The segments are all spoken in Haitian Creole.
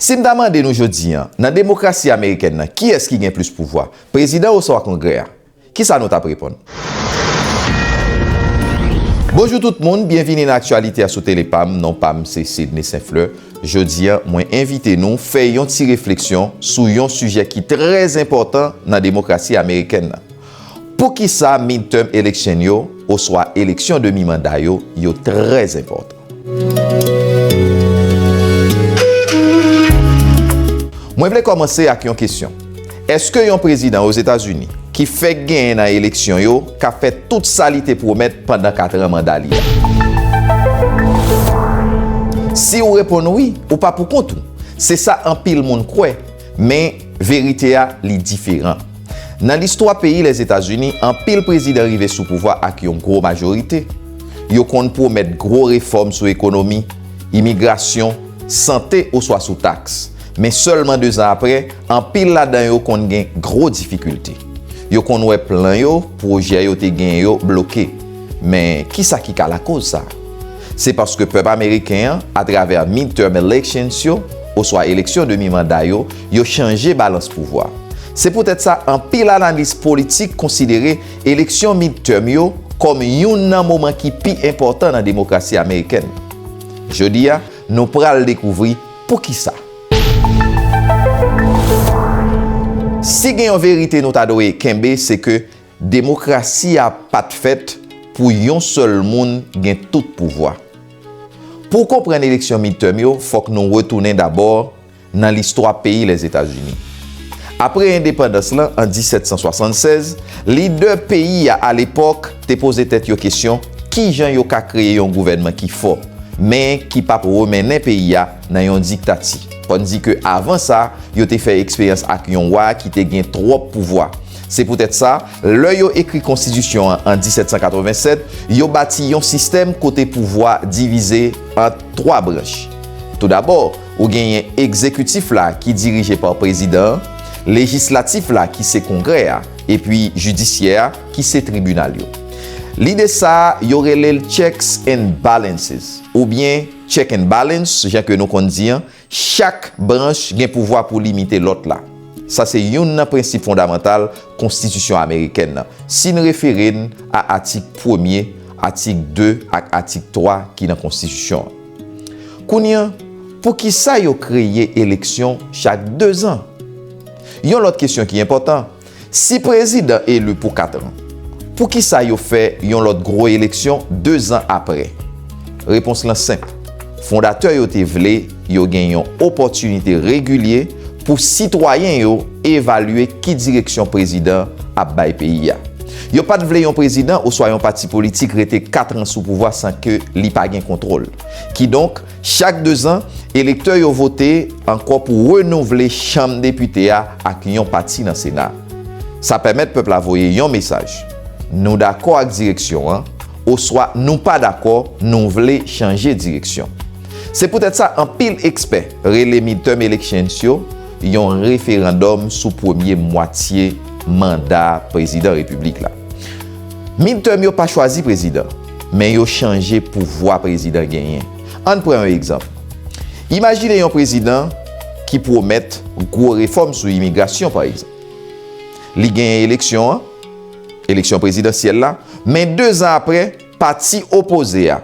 Si m ta mande nou jodi an, nan demokrasi amerikèn nan, kiyès ki gen plis pouvwa, prezidan oswa Kongrè a? Ki sa nou t ap reponn? Bonjou tout moun, byenvini nan aktyalite a sou tele pa m, non pa m se Sidney St. Fleur. Jodi an, mwen envite nou fè yon ti refleksyon sou yon sijè ki trè enpòtan nan demokrasi amerikèn nan. Poukisa midterm election yo oswa eleksyon demi manda yo yo trè enpòtan? Mwen vle kòmanse ak yon kesyon. Eske yon prezidan Ozetazini ki fèk genyen nan eleksyon yo ka fè tout sa li te pwomèt pandan katran manda li a? Si ou reponn wi, ou pa poukont ou. Se sa anpil moun kwè, men verite a li diferan. Nan listwa peyi Lèzetazini, anpil prezidan rive sou pouvwa ak yon gwo majorite. Yo konn pwomèt gwo refòm sou ekonomi, imigrasyon, sante oswa sou taks. Men sèlman dezan apre, anpil ladan yo konn gen gwo difikilte. Yo konn wè plan yo, pwojè yo te genyen yo bloke. Men, ki sa ki ka lakoz sa? Se paske pèp ameriken an, atravè midterm elections yo, oswa eleksyon demi manda yo, yo chanje balans pouvwa. Se poutèt sa anpil analis politik konsidere eleksyon midterm yo kòm youn nan moman ki pi enpòtan nan demokrasi amerikèn. Jodi a, nou pral dekouvri poukisa. Si gen yon verite nou ta dwe kenbe se ke demokrasi a pa t fèt pou yon sèl moun gen tout pouvwa. Pou w konprann eleksyon midterm yo, fòk nou retounen dabò nan listwa peyi Lèzetazini. Apre endepandans lan an 1776, lidè peyi a alepòk te poze tèt yo kesyon kijan yo ka kreye yon gouvènman ki fò, men ki pa p remennen peyi a nan yon diktati, tandike avan sa yo te fè eksperyans ak yon wa ki te gen twòp pouvwa. Se poutèt sa, lè yo ekri konstitisyon an an 1787, yo bati yon sistèm kote pouvwa divize ant twa branch. Toudabò, Ou genyen egzekitif la ki dirije pa prezidan an, lejislatif la ki se kongrè a, epi jidisyè a ki se tribinal yo. Lide sa a, yo rele l checks and balances, oubyen check and balance jan ke nou konn di an, chak branch gen pouvwa pou limite lòt la. Sa se youn nan prensip fondamantal konstitisyon amerikèn nan, si n refere n a atik premye, atik 2 ak atik 3 ki nan konstitisyon an. Kounye an, poukisa yo kreye eleksyon chak dezan? Yon lòt kesyon ki enpòtan, si prezidan eli pou katran, poukisa yo fè yon lòt gwo eleksyon dezan apre? Repons lan senp, fondatè yo te vle yo gen yon opòtinite regilye pou sitwayen yo evalye ki direksyon prezidan ap bay peyi a. Yo pa t vle yon prezidan oswa yon pati politik rete katran sou pouvwa san ke li pa gen kontwòl. Kidonk, chak dezan, elektè yo vote ankò pou renouvle Chanm Depite a ak yon pati nan Sena a. Sa pèmèt pèp la voye yon mesaj, Nou dakò ak direksyon an, oswa Nou pa dakò, nou vle chanje direksyon. Se poutèt sa anpil ekspè rele midterm elections yo, yon referandòm sou premye mwatye manda prezidan repiblik la. Midterm yo pa chwazi prezidan, men yo chanje pouvwa prezidan genyen. Ann pran yon egzanp. Imajine yon prezidan ki pwomèt gwo refòm sou imigrasyon, pa egzanp. Li genyen eleksyon an, eleksyon prezidansyèl la, men dezan apre, pati opoze a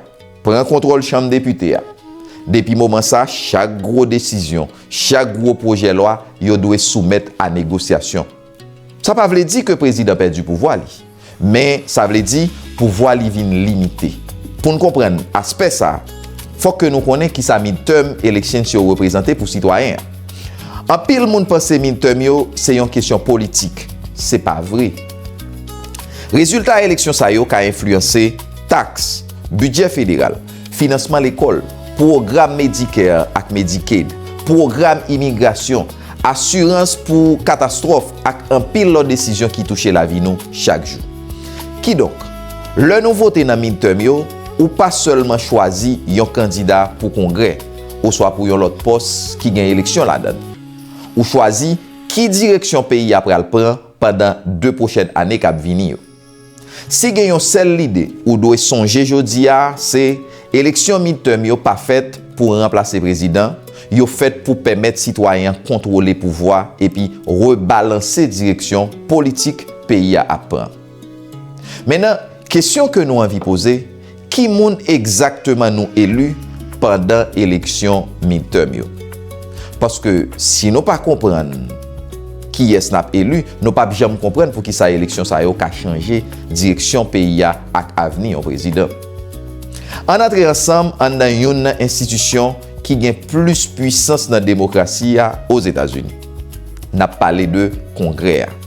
pran kontwòl chanm depite a. Depi moman sa, chak gwo desizyon, Chak gwo pwojè lwa yo dwe soumèt a negosyasyon. Sa pa vle di ke prezidan pèdi pouvwa li, men sa vle di pouvwa li vin limite. Pou n konprann aspè sa, fòk ke nou konnen kisa midterm elections yo reprezante pou sitwayen an. Anpil moun panse midterm yo se yon kesyon politik, se pa vre. Rezilta eleksyon sa yo ka enfliyanse taks, bidjè federal, finansman lekòl, pwogram Medicare ak Medicaid, pwogram imigrasyon, asirans pou katastwòf ak anpil lòt desizyon ki touche lavi nou chak jou. Kidonk, lè nou vote nan midterm yo, ou pa sèlman chwazi yon kandida pou Kongrè oswa pou yon lòt pòs ki gen eleksyon ladan. Ou chwazi ki direksyon peyi a pral pran pandan 2 pwochèn ane k ap vini yo. Si gen yon sèl lide ou dwe sonje jodi a, se eleksyon midterm yo pa fèt pou ranplase prezidan, yo fèt pou pèmèt sitwayen an kontwole pouvwa epi rebalanse direksyon politik peyi a ap pran. Mennan, kesyon ke nou anvi poze, Ki moun egzakteman nou eli pandan eleksyon midterm yo? Paske si nou pa konprann kiyès n ap eli, nou pap janm konprann poukisa eleksyon sa yo ka chanje direksyon peyi a ak avni yon prezidan. Ann antre ansanm anndan youn nan enstitisyon ki gen plis pwisans nan demokrasi a Ozetazini. N ap pale de Kongrè a.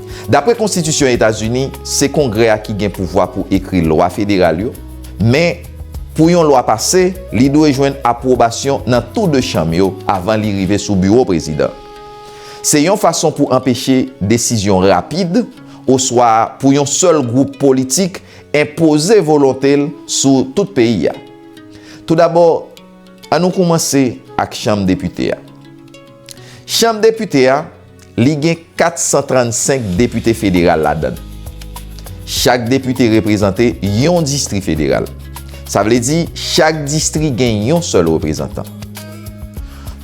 Dapre konstitisyon Etazini, se Kongrè a ki gen pouvwa pou ekri lwa federal yo, men, pou yon lwa pase, li dwe jwenn apwobasyon nan tou de chanm yo avan li rive sou biwo prezidan. Se yon fason pou anpeche desizyon rapid oswa pou yon sèl gwoup politik enpoze volonte l sou tout peyi a. Toudabò, annou koumanse ak Chanm Depite a. Chanm Depite a. Li gen 435 depite federal ladan l. Chak depite reprezante yon distri federal. Sa vle di chak distri gen yon sèl reprezantan.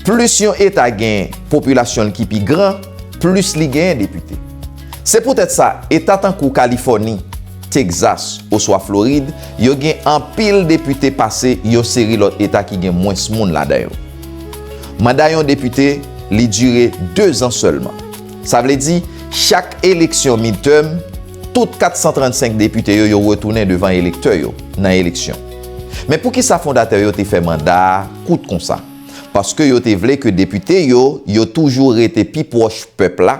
Plis yon eta gen popilasyon l ki pi gran, plis li genyen depite. Se poutèt sa eta tankou Kalifòni, Tegzas oswa Florid yo gen anpil depite pase yon seri lòt eta ki gen mwens moun ladan yo. Manda yon depite, li dire 2 zan sèlman. Sa vle di, chak eleksyon midterm, tout 435 depite yo, yo retounen devan elektè yo, nan eleksyon. Men poukisa fondatè yo te fè manda a kout konsa? Paske yo te vle ke depite yo, yo toujou rete pi pwòch pèp la,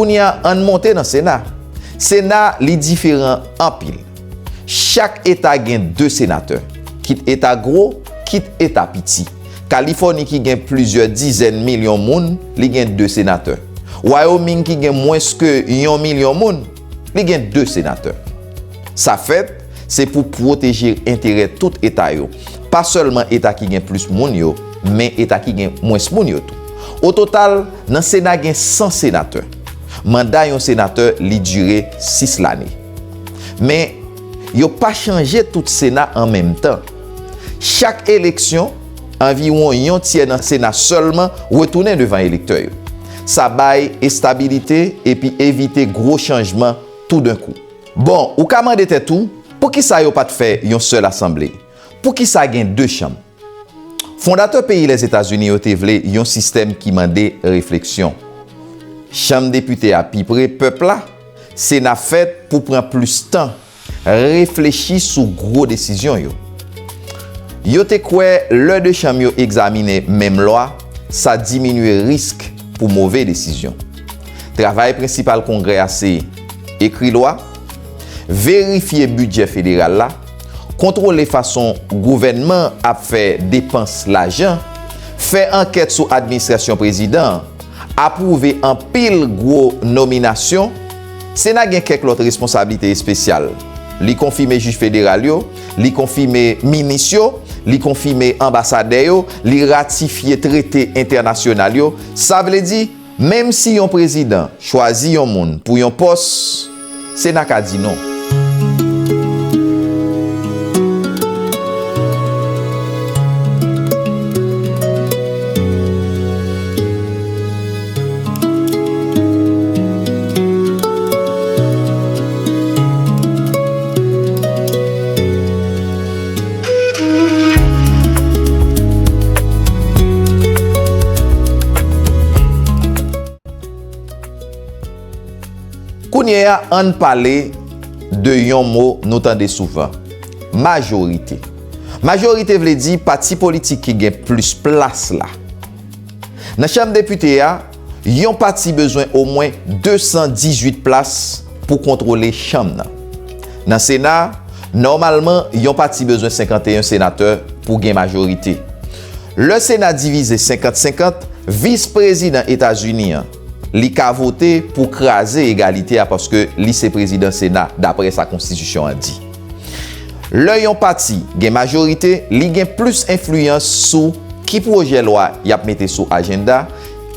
Kounye a ann monte nan sena. Sena li diferan anpil. Chak eta gen 2 senatè. Kit eta gwo, kit eta piti. Kalifòni ki gen plizyè dizèn milyon moun, li gen 2 senatè. Wyoming ki gen mwens ke yon milyon moun, li gen 2 senatè. Sa fèt, se pou pwoteje enterè tout eta yo, pa sèlman eta ki gen plis moun yo, men eta ki gen mwens moun yo tou. O total, nan Sena gen 100 senatè. Manda yon senatè, li dire 6 lane. Men, yo pa chanje tout Sena an menm tan. Chak eleksyon, anviwon yon tyè nan Sena sèlman retounen devan elektè yo. Sa bay estabilite epi evite gwo chanjman toudenkou. Bon, ou ka mande tèt ou, poukisa yo pa t fè yon sèl asanble? Poukisa gen de chanm? Fondatè peyi Lèzetazini yo te vle yon sistèm ki mande refleksyon. Chanm Depite a pi pre pèp la, Sena fèt pou pran plis tan Reflechi sou gwo desizyon yo. Yo te kwè lè 2 chanm yo egzaminen menm lwa, sa diminye risk pou move desizyon. Travay prensipal Kongrè a se, Ekri lwa, verifye bidjè federal la, kontwole fason gouvènman ap fè depans lajan, fè ankèt sou administrasyon prezidan an, apwouve anpil gwo nominasyon, Sena gen kèk lòt responsablite espesyal. Li konfime jij federal yo, li konfime minis yo, li konfime anbasadè yo, li ratifye trete entènasyonal yo. Sa vle di, menm si yon prezidan chwazi yon moun pou yon pòs, Sena ka di non. Kounye a ann pale de yon mo nou tande souvan, majorite. Majorite vle di pati politik ki gen plis plas la. Nan chanm depite a, yon pati bezwen omwen 218 plas pou kontwole chanm nan. Nan sena, nòmalman yon pati bezwen 51 senatè pou gen majorite. Lè sena divize 50 50, vis prezidan Etazini an, li ka vote pou kraze egalite a paske li se prezidan sena dapre sa konstitisyon an di. Lè yon pati gen majorite, li gen plis enfliyans sou ki pwojè lwa y ap mete sou ajenda,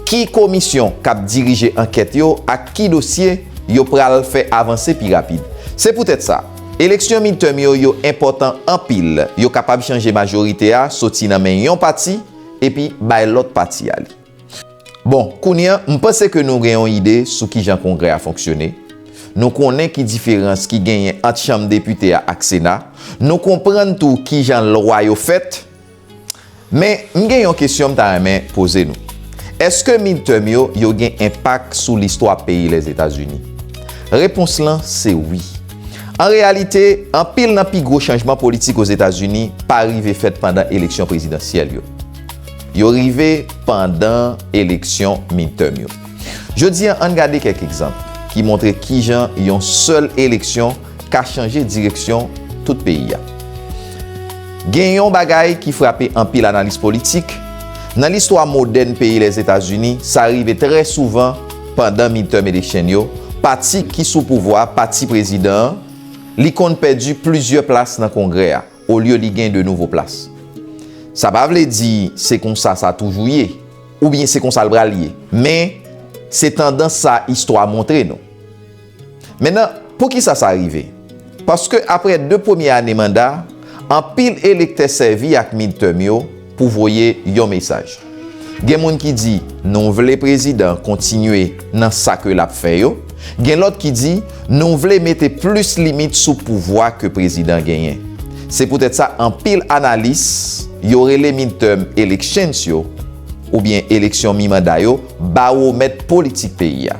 ki komisyon k ap dirije ankèt yo ak ki dosye yo pral fè avanse pi rapid. Se poutèt sa, eleksyon midterm yo yo enpòtan anpil, yo kapab chanje majorite a soti nan men yon pati epi bay lòt pati a li. Bon, kounye a, m panse ke nou gen yon ide sou kijan Kongrè a fonksyone, nou konnen ki diferans ki genyen ant Chanm Depite a ak Sena, nou konprann tou kijan lwa yo fèt. Men, m gen yon kesyon m ta renmen poze nou. Èske midterm yo, yo gen enpak sou listwa peyi Lèzetazini? Repons lan se wi. An reyalite, anpil nan pi gwo chanjman politik Ozetazini pa rive fèt pandan eleksyon prezidansyèl yo. Yo rive pandan eleksyon midterm yo. Jodi an, ann gade kèk egzanp ki montre kijan yon sèl eleksyon ka chanje direksyon tout peyi a. Gen yon bagay ki frape anpil analis politik, nan listwa modèn peyi Lèzetazini, sa rive trè souvan pandan midterm election yo, pati ki sou pouvwa, pati prezidan an, li konn pèdi plizyè plas nan Kongrè a. olye li gen 2 nouvo plas. Sa pa vle di se konsa sa toujou ye, oubyen se konsa l pral ye, men se tandans sa istwa montre nou. Mennan, poukisa sa rive? Paske aprè 2 premye ane manda, anpil elektè sèvi ak midterm yo, pou voye yon mesaj. Gen moun ki di nou vle prezidan kontinye nan sa ke lap fè yo, gen lòt ki di nou vle mete plis limit sou pouvwa ke prezidan genyen. Se poutèt sa anpil analis yo rele midterm elections yo oubyen eleksyon mi manda yo bawomèt politik peyi a.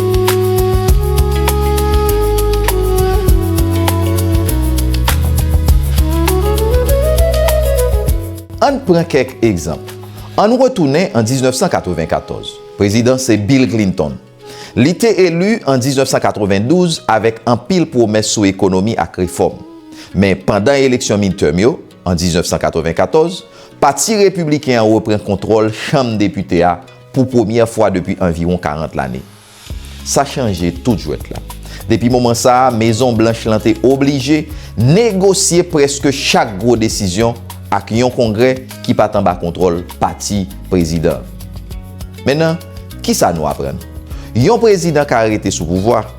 Ann pran kèk egzanp. Ann retounen an 1994. Prezidan se Bill Clinton. Li te eli an 1992 avèk anpil pwomès sou ekonomi ak refòm. Men, pandan eleksyon midterm yo, an 1994, Pati Repibliken an repran kontwòl Chanm Depite a Pou premyè fwa depi anviwon 40 lane, sa chanje tout jwèt la. Depi moman sa a, Mezon Blanch lan te oblije negosye prèske chak gwo desizyon ak yon Kongrè ki pa t anba kontwòl pati prezidan an. Men nan, kisa nou aprann? Yon prezidan ka rete sou pouvwa,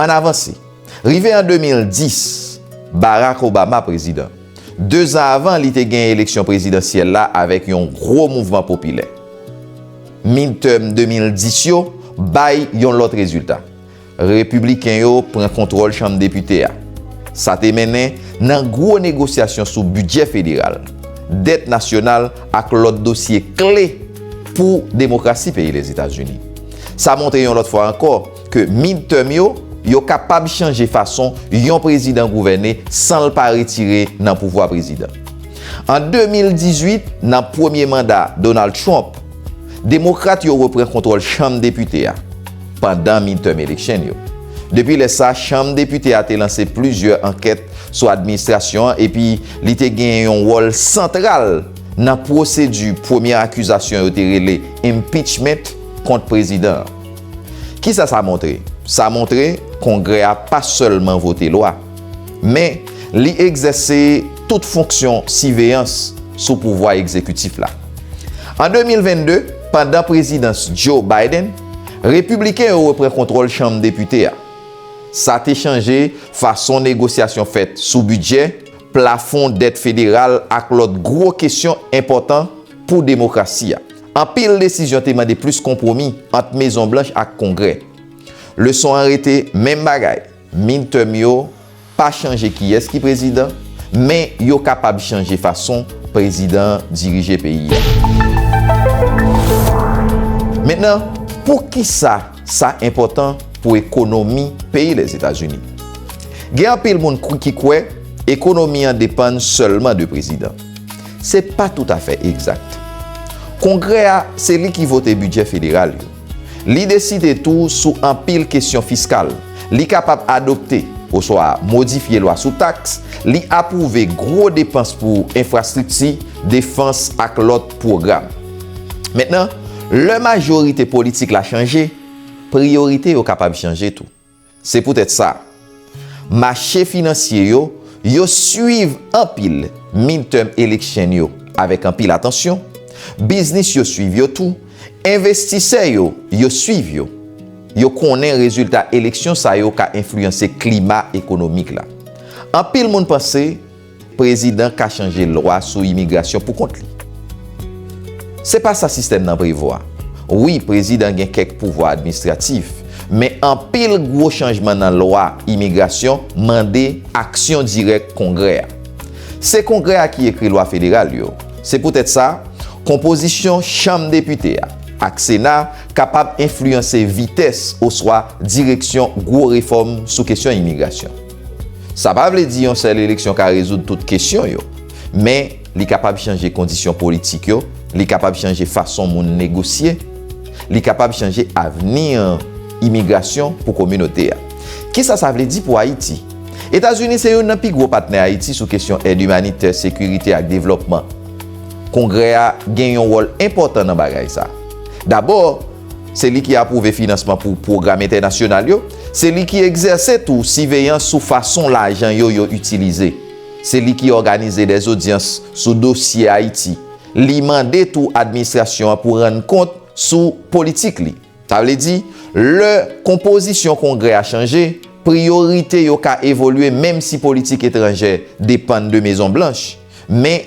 Ann avanse. Rive an 2010, Barack Obama prezidan. Dezan avan, li te gen eleksyon prezidansyèl la avèk yon gwo mouvman popilè. Midterm 2010 yo bay yon lòt rezilta. Repibliken yo pran kontwòl Chanm Depite a. Sa te mennen nan gwo negosyasyon sou bidjè federal, dèt nasyonal ak lòt dosye kle pou demokrasi peyi Lèzetazini. Sa montre yon lòt fwa ankò ke midterm yo yo kapab chanje fason yon prezidan gouvène san l pa retire nan pouvwa prezidan. An 2018, nan premye manda Donald Trump, Demokrat yo repran kontwòl Chanm Depite a pandan midterm election yo. Depi lè sa, Chanm Depite a te lanse plizyè ankèt sou administrasyon an epi li te genyen yon wòl santral nan pwosedi premye akizasyon yo te rele impeachment kont prezidan an. Kisa sa montre? Sa montre Kongrè a pa sèlman vote lwa. men li egzèse tout fonksyon siveyans sou pouvwa egzekitif la. An 2022, pandan prezidans Joe Biden, Repibliken yo repran kontwòl Chanm Depite a. Sa te chanje fason negosyasyon fèt sou bidjè, plafon dèt federal ak lòt gwo kesyon enpòtan pou demokrasi a. Anpil desizyon te mande plis konpwomi ant Mezon Blanch ak Kongrè. Leson an rete menm bagay. Midterm yo pa chanje kiyès ki prezidan, men yo kapab chanje fason prezidan an dirije peyi a. Mentnan, poukisa sa enpòtan pou ekonomi peyi Lèzetazini? Gen anpil moun ki kwè ekonomi an depann sèlman de prezidan. Se pa toutafè egzat. Kongrè a se li ki vote bidjè federal yo. Li deside tou sou anpil kesyon fiskal. Li kapab adopte oswa modifye lwa sou taks, li apwouve gwo depans pou enfrastrikti, defans ak lòt pwogram. Mentnan, lè majorite politik la chanje, priyorite yo kapab chanje tou. Se poutèt sa, mache finansye yo, yo swiv anpil midterm election yo avèk anpil atansyon, biznis yo swiv yo tou, envestisè yo, yo swiv yo. Yo konnen rezilta eleksyon sa yo ka enfliyanse klima ekonomik la. Anpil moun panse. Prezidan ka chanje lwa sou imigrasyon pou kont li. Se pa sa sistèm nan prevwa. Wi, prezidan gen kèk pouvwa administratif, men anpil gwo chanjman nan lwa imigrasyon mande aksyon dirèk Kongrè a. Se Kongrè a ki ekri lwa federal yo. Se poutèt sa, konpozisyon Chanm Depite a ak Sena kapab enfliyanse vitès oswa direksyon gwo refòm sou kesyon imigrasyon. Sa pa vle di yon sèl eleksyon ka rezoud tout kesyon yo. Men, li kapab chanje kondisyon politik yo, li kapab chanje fason moun negosye, li kapab chanje avni imigrasyon pou kominote a. Kisa sa vle di pou Ayiti? Etazini se youn nan pi gwo patnè Ayiti sou kesyon èd imanitè, sekirite ak devlòpman. Kongrè a gen yon wòl enpòtan nan bagay sa. Dabò, Se li ki apwouve finansman pou pwogram entènasyonal yo. Se li ki egzèse tou siveyans sou fason lajan yo yo itilize. Se li ki òganize dè zodyans sou dosye Ayiti. Li mande tou administrasyon an pou rann kont sou politik li. Sa vle di, lè konpozisyon Kongrè a chanje, priyorite yo ka evolye menm si politik etranjè depann de Mezon Blanch. Men,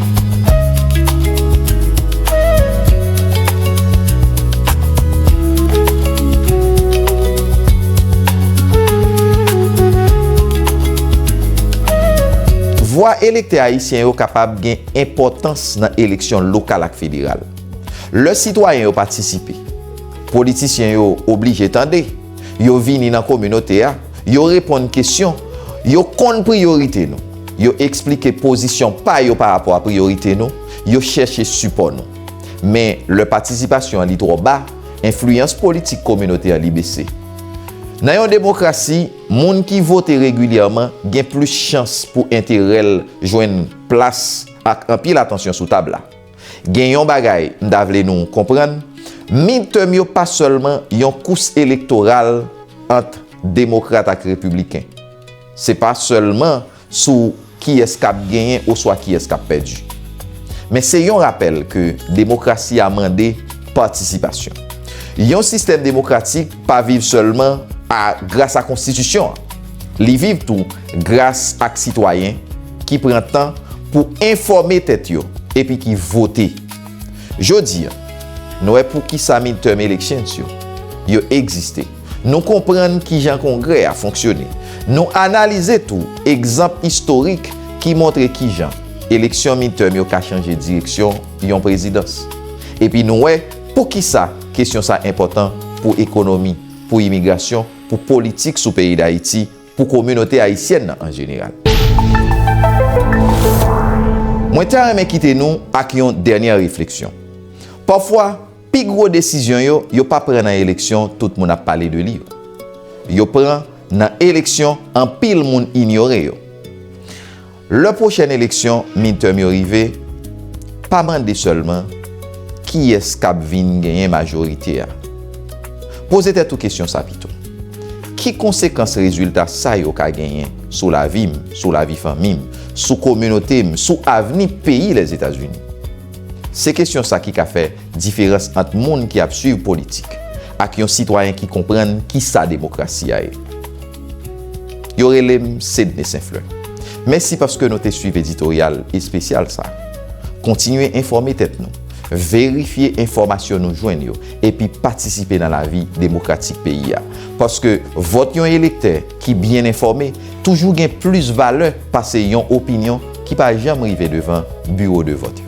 Vwa elektè ayisyen yo kapab gen enpòtans nan eleksyon lokal ak federal. Lè sitwayen yo patisipe, politisyen yo oblije tande, yo vini nan kominote a, Yo reponn kesyon. Yo konn priyorite nou. Yo eksplike pozisyon pa yo pa rapò a priyorite nou. Yo chèche sipò nou. Men, lè patisipasyon an li twò ba, enfliyans politik kominote an li bese. Nan yon demokrasi, moun ki vote regilyèman gen plis chans pou enterè l jwenn plas ak anpil atansyon sou tab la. Gen yon bagay m ta vle nou konprann, midterm yo pa sèlman yon kous elektoral ant demokrat ak repibliken. Se pa sèlman sou kiyès k ap genyen oswa kiyès k ap pèdi. Men se yon rapèl ke demokrasi a mande patisipasyon. Yon sistèm demokratik pa viv sèlman a gras a konstitisyon an. Li viv tou gras ak sitwayen. ki pran tan pou enfòme tèt yo epi ki vote. Jodi a, nou wè poukisa midterm elections yo, yo egziste. Nou konprann kijan Kongrè a fonksyone. Nou analize tou egzanp istorik ki montre kijan eleksyon midterm yo ka chanje direksyon yon prezidans. Epi nou wè poukisa kesyon sa enpòtan pou ekonomi, pou imigrasyon, pou politik sou peyi Dayiti, pou kominote ayisyèn nan an jeneral. Mwen ta renmen kite nou ak yon dènyè refleksyon. Pafwa, pi gwo desizyon yo, yo pa pran nan eleksyon tout moun ap pale de li yo. Yo pran nan eleksyon anpil moun inyore yo. Lè pwochèn eleksyon midterm yo rive, pa mande sèlman kiyès k ap vin genyen majorite a. Poze tèt ou kesyon sa pito, Ki konsekans rezilta sa yo ka genyen sou lavi m, sou lavi fanmi m, sou kominote m, sou avni peyi Lèzetazini? Se kesyon sa ki ka fè diferans ant moun ki ap suiv politik, Ak yon sitwayen ki konprann ki sa demokrasi a ye. Yo rele m Cedne St. Fleur. Mèsi paske nou te swiv editoryal espesyal sa. Kontinye enfòme tèt nou, verifye enfòmasyon nou jwenn yo epi patisipe nan lavi demokratik peyi a. Paske vòt yon elektè ki byen enfòme toujou gen plis valè pase yon opinyon ki pa janm rive devan biwo de vòt yo.